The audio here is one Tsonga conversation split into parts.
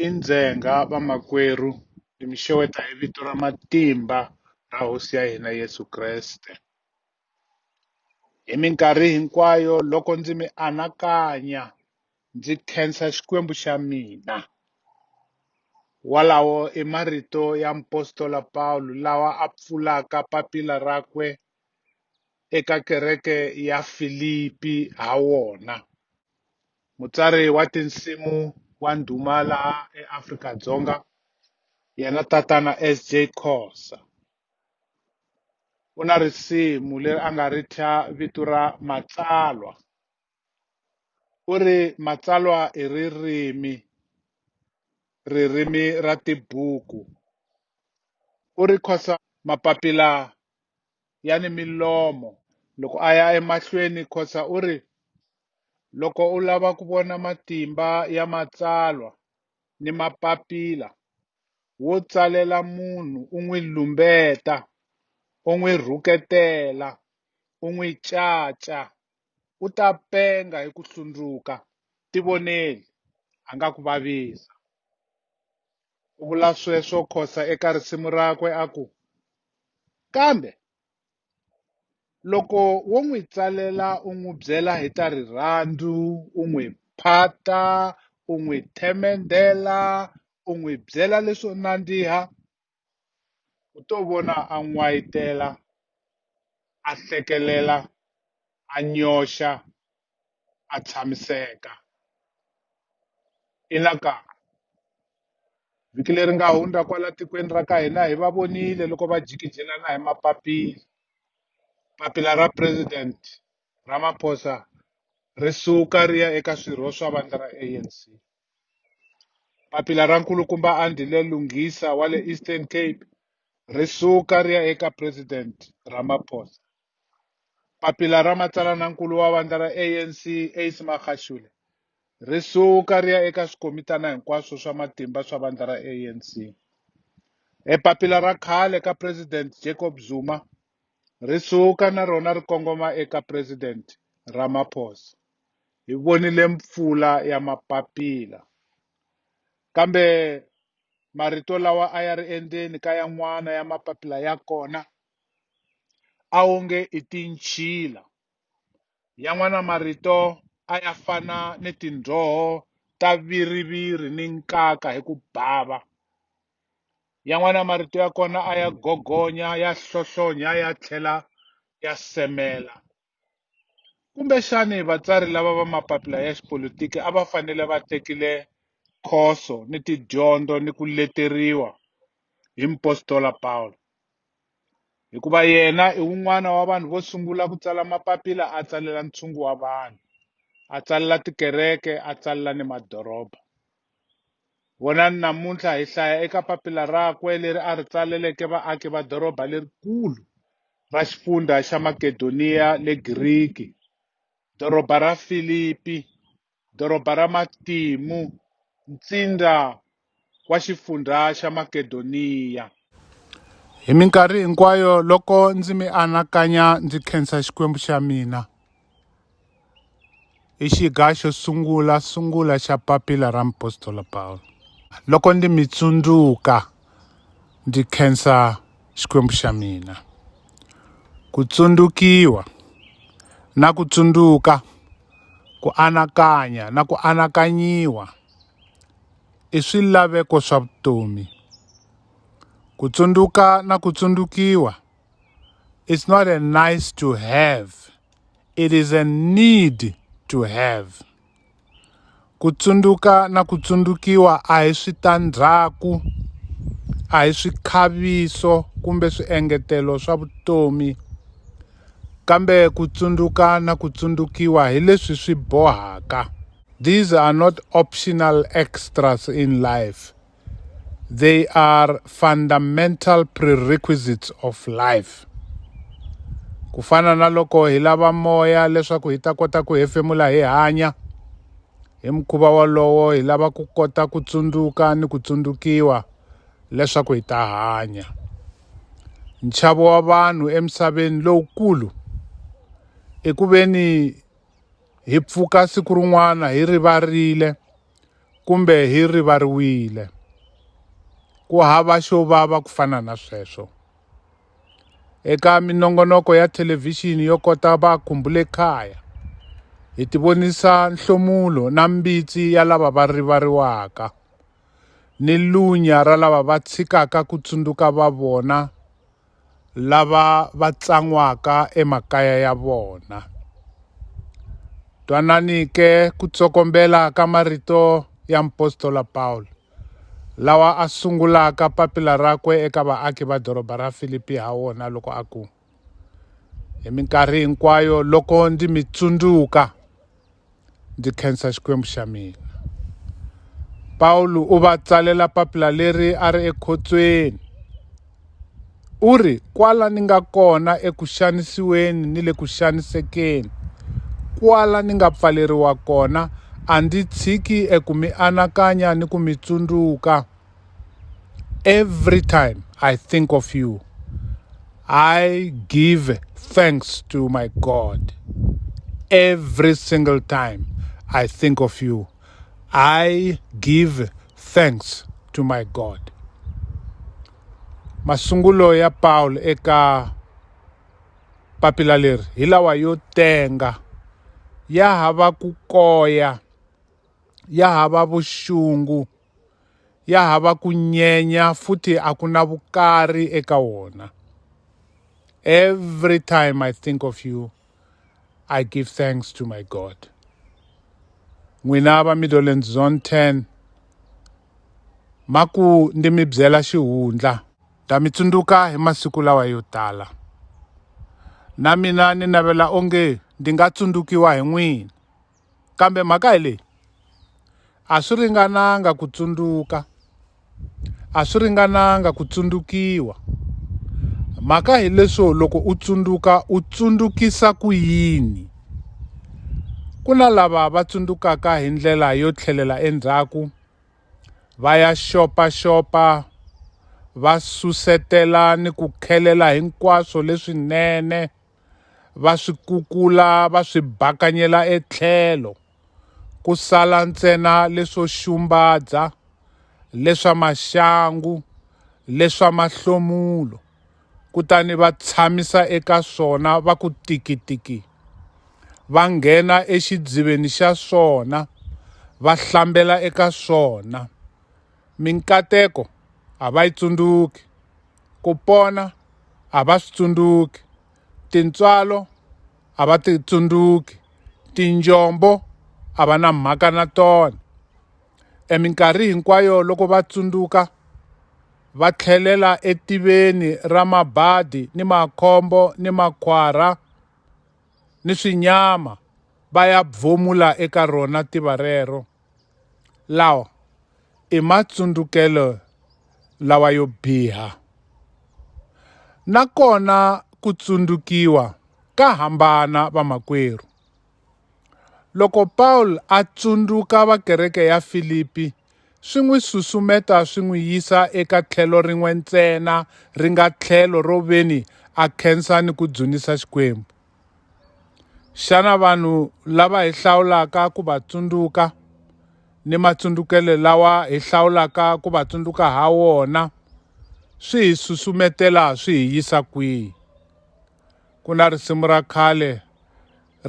i ndzhenga vamakwerhu hi mi xeweta hi vito ra matimba ra hosi ya hina Yeso Kreste hi minkarhi hinkwayo loko ndzi mi anakanya ndzi khensa Xikwembu xa mina walawo i marito ya mupostola Pawulo lawa a pfulaka papila rakwe eka kereke ya Filipi ha wona Mutsari wa tinsimu wa ndhuma laha eAfrika-Dzonga yena tatana SJ Khosa u na risimu leri a nga ri thya vito ra Matsalwa u ri matsalwa i ririmi ririmi ra tibuku u ri Khosa mapapila ya ni milomo. Loko a ya emahlweni, Khoza u ri, Loko u lava ku vona matimba ya matsalwa ni mapapila, wo tsalela munhu u n'wi lumbeta, u n'wi rhuketela, u n'wi caca, u ta penga hi ku hlundzuka. Tivoneli, a nga ku vavisa. U vula sweswo Khosa eka risimu rakwe a ku, Kambe loko wo n'wi tsalela u n'wi byela hi ta rirhandzu, u n'wi phata, u n'wi themendhela, u n'wi byela leswo nandziha, u to vona a n'wayitela, a hlekelela, a nyoxa, a tshamiseka ina ka vhiki leri nga hundza kwala tikweni ra ka hina hi va vonile loko va jikijelana hi mapapila papila ra president Ramaphosa ri suka ri ya eka swirho swa vandla ra ANC. Papila ra nkulukumba Andile Lungisa wa le Eastern Cape ri suka ri ya eka President Ramaphosa. Papila ra matsalana-nkulu wa vandla ra ANC Ace Magashule ri suka ri ya eka swikomitana hinkwaswo swa matimba swa vandla ra ANC. E papila ra khale ka President Jacob Zuma ri suka na rona ri kongoma eka President Ramaphosa. Hi vonile mpfula ya mapapila. Kambe marito lawa a ya ri endzeni ka yan'wana ya mapapila ya kona a wu nge i tinchila. Yan'wana marito a ya fana ni tindzoho ta viriviri ni nkaka hi ku bava. Yan'wana marito ya kona a ya gogonya, ya hlohlonya, ya tlhela ya semela. Kumbexani vatsari lava va mapapila ya xipolitiki a va fanele va tekile khoso ni tidyondzo ni ku leteriwa hi mupostola Pawulo hikuva yena i wun'wana wa vanhu vo sungula ku tsala mapapila a tsalela ntshungu wa vanhu a tsalela tikereke a tsalela ni madoroba Vonani namuntlha hi hlaya eka papila rakwe leri a ri tsaleleke vaaki va doroba lerikulu ra xifundzha xa Makedoniya le Giriki, doroba ra Filipi, doroba ra matimu, ntsindza wa xifundzha xa Makedoniya. Hi minkarhi hinkwayo loko ndzi mi anakanya ndzi khensa Xikwembu xa mina. I xiga xo sungula sungula xa papila ra mupostola Pawulo. Loko ndzi mi tsundzuka ndzi khensa Xikwembu xa mina. Ku tsundzukiwa na ku tsundzuka ku anakanya na ku anakanyiwa i swilaveko swa vutomi. Ku tsundzuka na ku tsundzukiwa it's not a nice to have it is a need to have ku tsundzuka na ku tsundzukiwa a hi switandzhaku a hi swikhaviso kumbe swiengetelo swa vutomi kambe ku tsundzuka na ku tsundzukiwa hi leswi swi bohaka these are not optional extras in life They are fundamental prerequisites of life. Ku fana na loko hi lava moya leswaku hi ta kota ku hefemula hi hanya, hi mukhuva wolowo hi lava ku kota ku tsundzuka ni ku tsundzukiwa leswaku hi ta hanya. Nchavo wa vanhu emisaveni lowukulu i ku veni hi pfuka siku rin'wana hi rivarile kumbe hi rivariwile. Ku hava xo vava ku fana na sweswo. Eka minongonoko ya thelevhixini yo kota va khumbule kaya, hi tivonisa nhlomulo na mbitsi ya lava va rivariwaka, ni lunya ra lava va tshikaka ku tsundzuka va vona lava va tsan'waka emakaya ya vona. Twanani ke ku tsokombela ka marito ya mupostola Pawulo, lawa a sungulaka papila rakwe eka vaaki va doroba ra Filipi ha wona loko a ku, Hi minkarhi hinkwayo loko ndi mi tsundzuka, ndzi khensa Xikwembu xa mina. Pawulo u va tsalela papila leri a ri ekhotsweni. U ri, Kwala ni nga kona eku xanisiweni ni le ku xanisekeni, kwala ni nga pfaleriwa kona, a ndzi tshiki eku mi anakanya ni ku mi tsundzuka. Every time I think of you, I give thanks to my God. Every single time I think of you, I give thanks to my God. Masungulo ya Paul eka papila leri hi lawa yo tenga ya hava ku koya ya hava vuxungu ya hava ku nyenya futhi a ku na vukari eka wona every time i think of you i give thanks to my god n'wina va midolland zone 10 maku ndi mi byela xihundla ta mi tsundzuka hi masiku lawa yo tala na mina ni navela onge ndi nga tsundzukiwa hi n'wina Kambe mhaka hi leyi, a swi ringananga ku tsundzuka, a swi ringananga ku tsundzukiwa. Mhaka hileswo loko u tsundzuka u tsundzukisa ku yini? Ku na lava va tsundzukaka hi ndlela yo tlhelela endzhaku va ya xopaxopa va susetela ni ku khelela hinkwaswo leswinene. va swi kukula va swi bakanyela etlhelo ku sala ntsena leswo xumbadza leswa maxangu leswa mahlomulo kutani va tshamisa eka swona va ku tikitiki va nghena exidziveni xa swona va hlambela eka swona Minkateko a va yi tsundzuki, ku pona a va swi tsundzuki, tintswalo a va ti tsundzuki, tinjombo a va na mhaka na tona. Eminkarhi hinkwayo loko va tsundzuka va tlhelela etiveni ra mabadi ni makhombo ni makhwara ni swinyama va ya eka rona tiva rero. Lawa i matsundzukelo lawa yo biha. Nakona ku tsundzukiwa ka hambana vamakwerhu. Loko Paul a tsundzuka va kereke ya Filipi swi n'wi susumeta swi n'wi yisa eka tlhelo rin'we ntsena ri nga tlhelo ro veni a khensa ni ku dzunisa Xikwembu. Xana vanhu lava hi hlawulaka ku va tsundzuka ni matsundzukelo lawa hi hlawulaka ku va tsundzuka ha wona swi hi susumetela swi hi yisa kwihi? Ku na risimu ra khale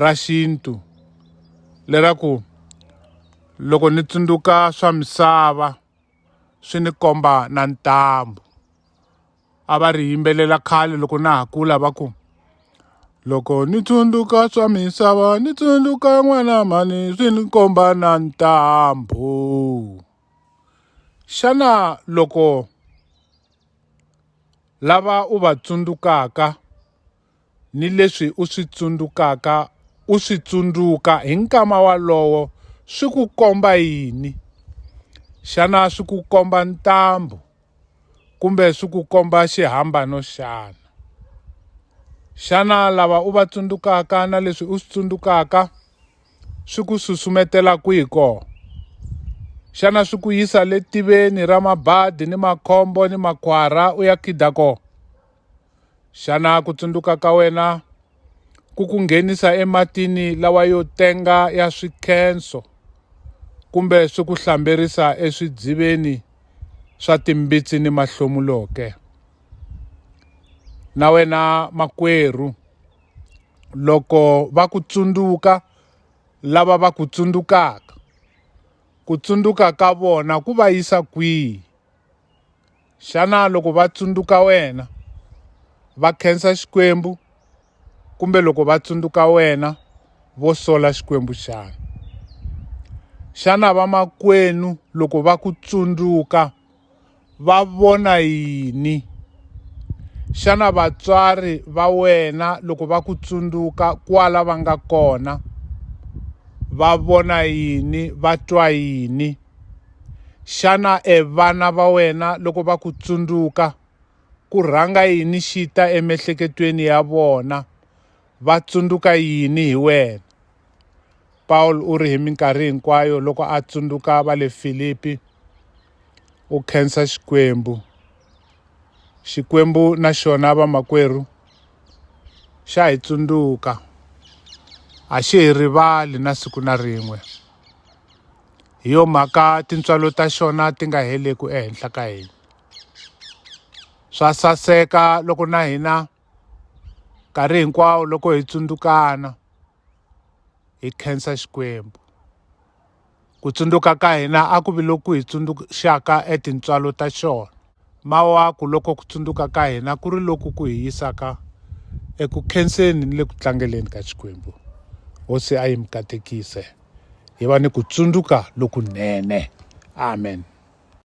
ra xintu leraku loko ni tsundzuka swa misava swi ni komba na ntambu. a va ri yimbelela khale loko na ha kula va ku loko ni tsundzuka swa misava ni tsundzuka n'wana mhani swi ni komba na ntambu xana loko lava u va tsundzukaka. ni leswi u swi tsundzukaka u swi tsundzuka hi nkama walowo swi ku komba yini? Xana swi ku komba ntambu kumbe swi ku komba xihambano xana? Xana lava u va tsundzukaka na leswi u swi tsundzukaka swi ku susumetela kwihi kona? Xana swi ku yisa le tiveni ra mabadi ni makhombo ni makhwara u ya khida kona? Xana ku tsundzuka ka wena ku ku nghenisa ematini lawa yo tenga ya swikhenso kumbe swi ku hlamberisa eswidziveni swa timbitsi ni mahlomulo ke? Na wena makwerhu, loko va ku tsundzuka lava va ku tsundzukaka, ku tsundzuka ka vona ku va yisa kwihi? xana loko va tsundzuka wena va khensa xikwembu kumbe loko va tsundzuka wena vo sola xikwembu xana xana vamakwenu loko va ku tsundzuka va vona yini xana vatswari va wena loko va ku tsundzuka kwala va nga kona va vona yini va twa yini Xana e vana va wena loko va ku tsundzuka ku rhanga yini xi ta emiehleketweni ya vona va tsundzuka yini hi wena? Paul u ri hi minkarhi hinkwayo loko a tsundzuka va le Filipi u khensa Xikwembu. Xikwembu na xona vamakwerhu xa hi tsundzuka a xi hi rivali na siku na rin'we. hi yo mhaka tintswalo ta xona ti nga heleku ehenhla ka hina swa saseka loko na hina nkarhi hinkwawo loko hi tsundzukana hi khensa Xikwembu ku tsundzuka ka hina a ku vi loku hi tsundzuxaka e tintswalo ta xona. Mawaku loko ku tsundzuka ka hina ku ri loku ku hi yisaka eku khenseni ni le ku tlangeleni ka Xikwembu. Hosi a yi mi katekise. Hi va ni ku tsundzuka lokunene. Amen.